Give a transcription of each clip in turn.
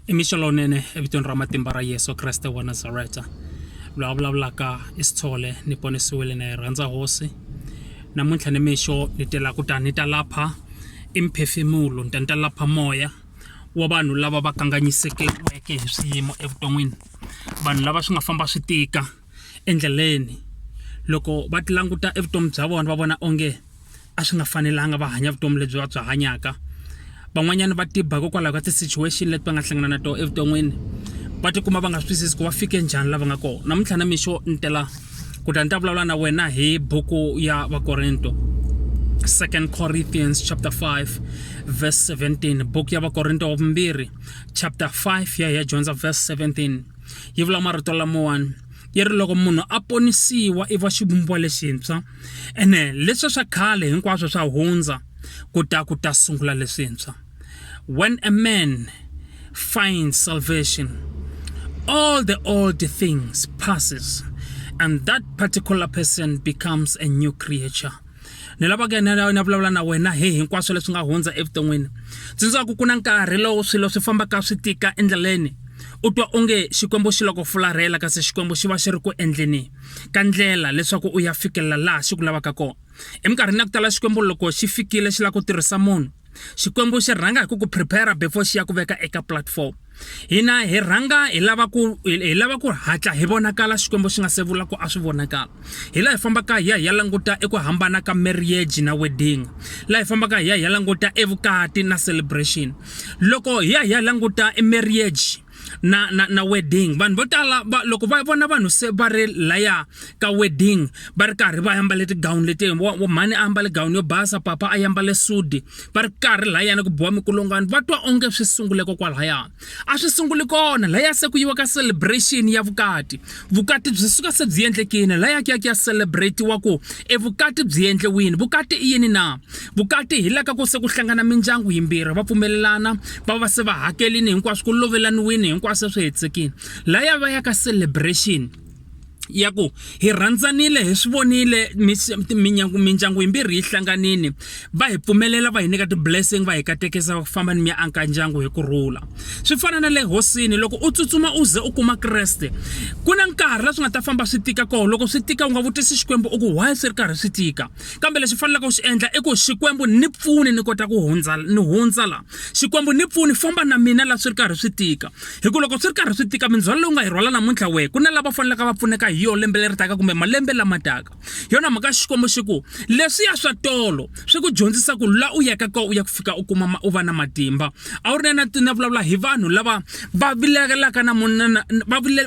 i mixo lowunene evitweni ra matimba ra yesu kreste wa nazareta loyi a vulavulaka i sithole ni ponisiwile na yi rhandza hosi namuntlha ni mixo ni tela ku ta ni ta lapha i mphefemulo ni ta ni ta lapha moya wa vanhu lava va kanganyisekeke hi swiyimo evuton'wini vanhu lava swi nga famba swi tika endleleni loko va ti languta evutomi bya vona va vona onge a swi nga fanelanga va hanya vutomi lebyi va byi hanyaka van'wanyana va tiba hikokwalaho ka ti-situation leti va nga hlangana na tona evuton'wini va tikuma va nga swi twisisi ku va fike njhani lava nga kona namuntlha na mixo ni tela ku ta ni ta vulavula na wena hi buku ya vakorinto second corinthians chapter 5 verse 17 buku ya vakorinto wa vumbirhi chapter 5 ya hi ya dyondza verse 17 yi vula marito lamawani yi ri loko munhu a ponisiwa i va xivumbiwa lexintshwa ene leswi swa khale hinkwaswo swa hundza ku ta ku ta sungula leswintshwa when a man finds salvation all the old things passes and that particular person becomes a new creature ni lava ku enela ni ya vulavula na wena hi hinkwaswo leswi nga hundza evuton'wini tsundzukaku ku na nkarhi lowu swilo swi fambaka swi tika endleleni u twa onge xikwembu xi loko fularhela kasi xikwembu xi va xi ri ku endleni ka ndlela leswaku u ya fikelela laha xi ku lavaka kona eminkarhini ya ku tala xikwembu loko xi fikile xi lava ku tirhisa munhu xikwembu xi rhanga hi ku ku prepare before xi ya ku veka eka platform hina hi rhanga hi lava ku hi lava ku hatla hi vonakala xikwembu xi nga se vula ku a swi vonakala hi laha hi fambaka hi ya hi ya languta eku hambana ka marriage na wedding laha hi fambaka hi ya hi ya languta evukati na celebration loko hi ya hi ya languta emarriage na na na wedding vanhu vo tala va loko va vona vanhu se va ri laya ka wedding va ri karhi va ambale tigown leti mhani a ambale gown yo basa papa a ambale sudi va ri karhi layana ku biwa mikulungwana va twa onge swi sungule kokwalahaya a swi sunguli kona laya se ku yiwa ka celebration ya vukati vukati byi suka se byi endlekile la yaki yaki ya celebratiwa ku e vukati byi endliwini vukati i yini na vukati hi la ka ku se ku hlangana mindyangu yimbirhi va pfumelelana va va se va hakelini hinkwaswo ku lovelaniwini hinkwaswo swi hetsekile la ya va ya ka celebration ya ku hi rhandzanile hi swi vonile mindyangu yimbirhi yi hlanganile va hi pfumelela va hi nyika ti-blessing va hi katekisa ku famba ni mi ya anka ndyangu hi ku rhula swi fana na le hosini loko u tsutsuma u ze u kuma kreste ku na nkarhi la swi nga ta famba swi tika koho loko swi tika u nga vutisi xikwembu u ku why swi ri karhi swi tika kambe lexi faneleke u xi endla i ku xikwembu ni pfuni ni kota ku hundza ni hundza la xikwembu ni pfuni famba na mina la swi ri karhi swi tika hi ku loko swi ri karhi swi tika mindzhwalo lowu nga yi rhwala namuntlha wehe ku na lava faneleke va pfuneka hi yo lembe leri taka kumbe malembe lama taka hi yona mhaka xikwembu xi ku leswiya swa tolo swi ku dyondzisa ku la u yaka ko u ya ku fika u kuma u va na matimba a wu ri na na vulavula hi vanhu lava va vilelaka na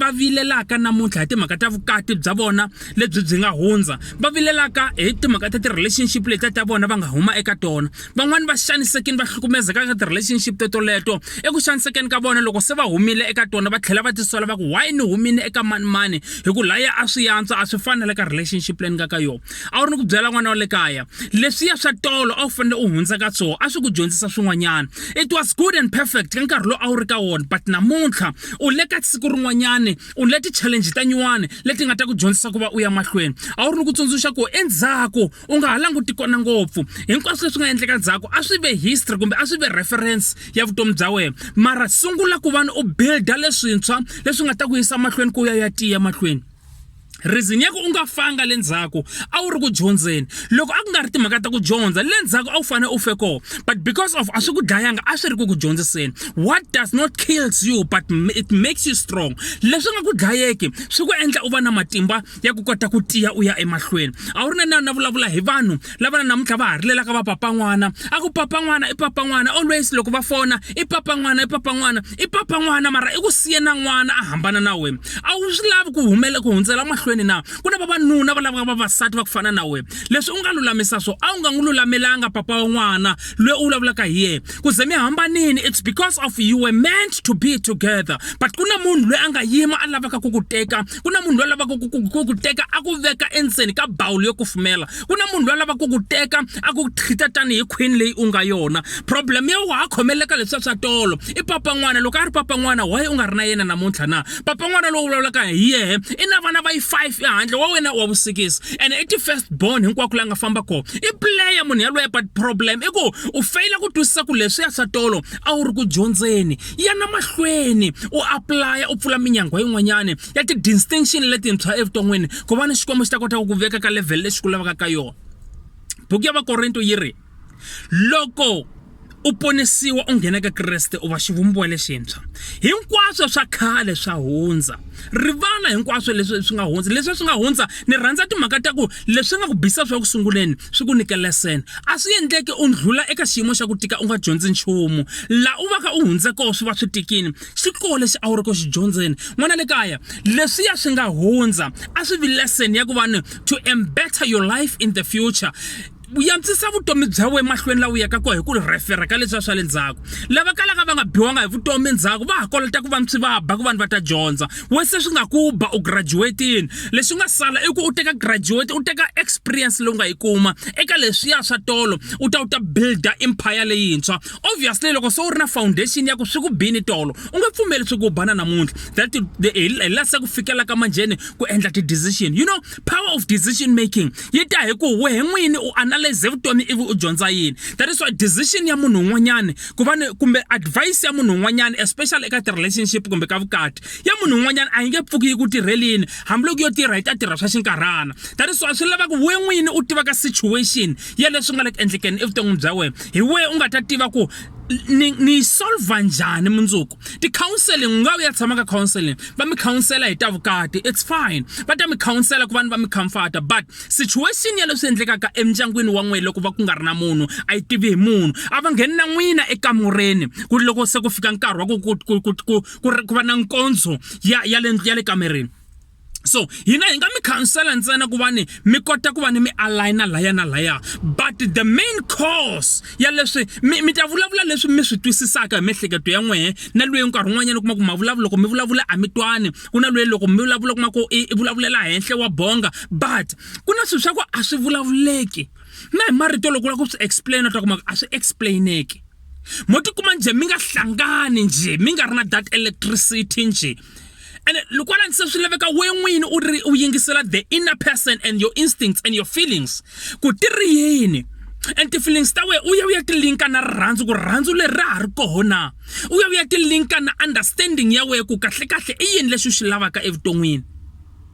va vilelaka namuntlha hi timhaka ta vukati bya vona lebyi byi nga hundza va vilelaka hi timhaka ta ti-relationship letiya ta vona va nga huma eka tona van'wani va xanisekini va hlukumezeka ka ti-relationship to toleto eku xanisekeni ka vona loko se va humile eka tona va tlhela va tisola va ku why ni humile eka manimani hi ku laya a swi yantswa a swi fanele ka relationship leyi ni nga ka yona a wu ri ni ku byela n'wana wa le kaya leswiya swa tolo a wu fanele u hundza ka swona a swi ku dyondzisa swin'wanyana it was good and perfect ka nkarhi lowu a wu ri ka wona but namuntlha u le ka siku rin'wanyana u le ti-challenge ta nyuwani leti nga ta ku dyondzisa ku va u ya mahlweni a wu ri ni ku tsundzuxa ku endzhaku u nga ha languti kona ngopfu hinkwaswo leswi nga endleka ndzhaku a swi ve history kumbe a swi ve reference ya vutomi bya wena mara sungula ku vana u builda leswintshwa leswi nga ta ku yisa mahlweni ku ya ya tiya mahlweni reason ya ku u nga fanga le ndzhaku a wu ri ku dyondzeni loko a ku nga ri timhaka ta ku dyondza le ndzhaku a wu fanele u fe koho but because of a swi ku dlayanga a swi ri ku ku dyondziseni what does not kills you but it makes you strong leswi nga ku dlayeki swi ku endla u va na matimba ya ku kota ku tiya u ya emahlweni a wu ri na na na vulavula hi vanhu lava na namuntlha va ha ri lelaka va papa n'wana a ku papa n'wana i papa n'wana always loko va fona i papa n'wana i papa n'wana i papa n'wana mara i ku siye na n'wana a hambana na wena a wu swi lavi ku humela ku hundzela mahlweni na ku na vavanuna va lavaka vavasati va ku fana na wena leswi u nga lulamisa swo a wu nga n'wi lulamelanga papa wa n'wana loyi u vulavulaka hi yena ku ze mi hambanini it's because of you were meant to be together but ku na munhu loyi a nga yima a lavaka ku ku teka ku na munhu loyi lavaka ku ku teka a ku veka endzeni ka bawulo yo kufumela ku na munhu loyi lavaka ku ku teka a ku treat-a tanihi khwini leyi u nga yona problem yo wa ha khomeleka leswa swa tolo i papa n'wana loko a ri papa n'wana why u nga ri na yena namuntlha na papa n'wana lowu vulavulaka hi yehe i na vana va yi five ehandle wa wena wa vusikisi and i ti-first born hinkwako la nga famba kona i player munhu yaloye but problem i ku u feyila ku twisisa ku leswi ya swa tolo a wu ri ku dyondzeni yana mahlweni u aplaya u pfula minyangwa yin'wanyana ya ti-distinction letintshwa evuton'wini ku va ni xikwembu xi ta kota ku ku veka ka level lexi ku lavaka ka yona buku ya vakorinto yi ri loko u ponisiwa u nghena ka kreste u va xivumbiwa lexintshwa hinkwaswo swa khale swa hundza rivala hinkwaswo leswi swi nga hundza leswi swi nga hundza ni rhandza timhaka ta ku leswi nga ku bisa swa ku sunguleni swi ku nyike lesson a swi endleki u ndlhula eka xiyimo xa ku tika u nga dyondzi nchumu la u va ka u hundze koho swi va swi tikini xi koho lexi a wu ri ku xi dyondzeni n'wana le kaya leswiya swi nga hundza a swi vi lesson ya ku va ni to embetter your life in the future yantsisa vutomi bya wena emahlweni lawa yaka kona hi ku rhefera ka leswi swa le ndzhaku lava kalaka va nga biwanga hi vutomi endzhaku va ha kolota ku va swi va ba ku vanhu va ta dyondza we se swi nga ku ba u graduatini leswi nga sala i ku u teka graduate u teka experience leyi u nga yi kuma eka leswiya swa tolo u ta u ta builda empire leyintshwa obviously loko se u ri na foundation ya ku swi ku bini tolo u nge pfumeli swi ku bana namuntlha that hi la se ku fikela ka manjheni ku endla ti-decision you know power of decision making yi ta hi ku wehe n'wini u analyze vutomi ivi u dyondza yini that is why decision ya munhu un'wanyana ku va kumbe advice ya munhu un'wanyana especially eka ti-relationship kumbe ka vukati ya munhu un'wanyana a yi nge pfuki yi ku tirhelini hambiloko yo tirha yi ta tirha swa xinkarhana that is why swi lavaka we n'wini u tivaka situation ya leswi nga le ku endlekeni evuton'wini bya wena hi wehe u nga ta tiva ku ni ni yi solva njhani mundzuku ti-counseling u nga u ya tshama ka counseling va mi counsela hi ta vukati it's fine va ta mi counsela ku va ni va mi comforta but situation ya leswi endlekaka emindyangwini wa n'wina loko va ku nga ri na munhu a yi tivi hi munhu a va ngheni na n'wina ekamureni ku ri loko se ku fika nkarhi wa ku ku ku ku ku ku va na nkondzo ya ya le ya le kamereni so hina hi nga mi khansela ntsena ku va ni mi kota ku va ni mi aligna laya na laya but the main cause ya leswi mi mi ta vulavula leswi mi swi twisisaka hi miehleketo ya n'wehe na lweyi nkarhi un'wanyana kuma ku mavulavula loko mi vulavula a mi twani ku na lweyi loko mi vulavula kuma ku i vulavulela henhla wa bonga but ku na swilo swa ku a swi vulavuleki na hi marito loko u lava ku swi explain u ta kuma ku a swi explaineki mo tikuma nje mi nga hlangani nje mi nga ri na that electricity nje and loko wa langutisa swi laveka we n'wini u ri u yingisela the inner person and your instincts and your feelings ku ti ri yini and ti-feelings ta wena u ya u ya tilinka na rirhandzu ku rirhandzu leri ra ha ri kona u ya u ya tilinka na understanding ya wena ku kahlekahle i yini leswi u swi lavaka evuton'wini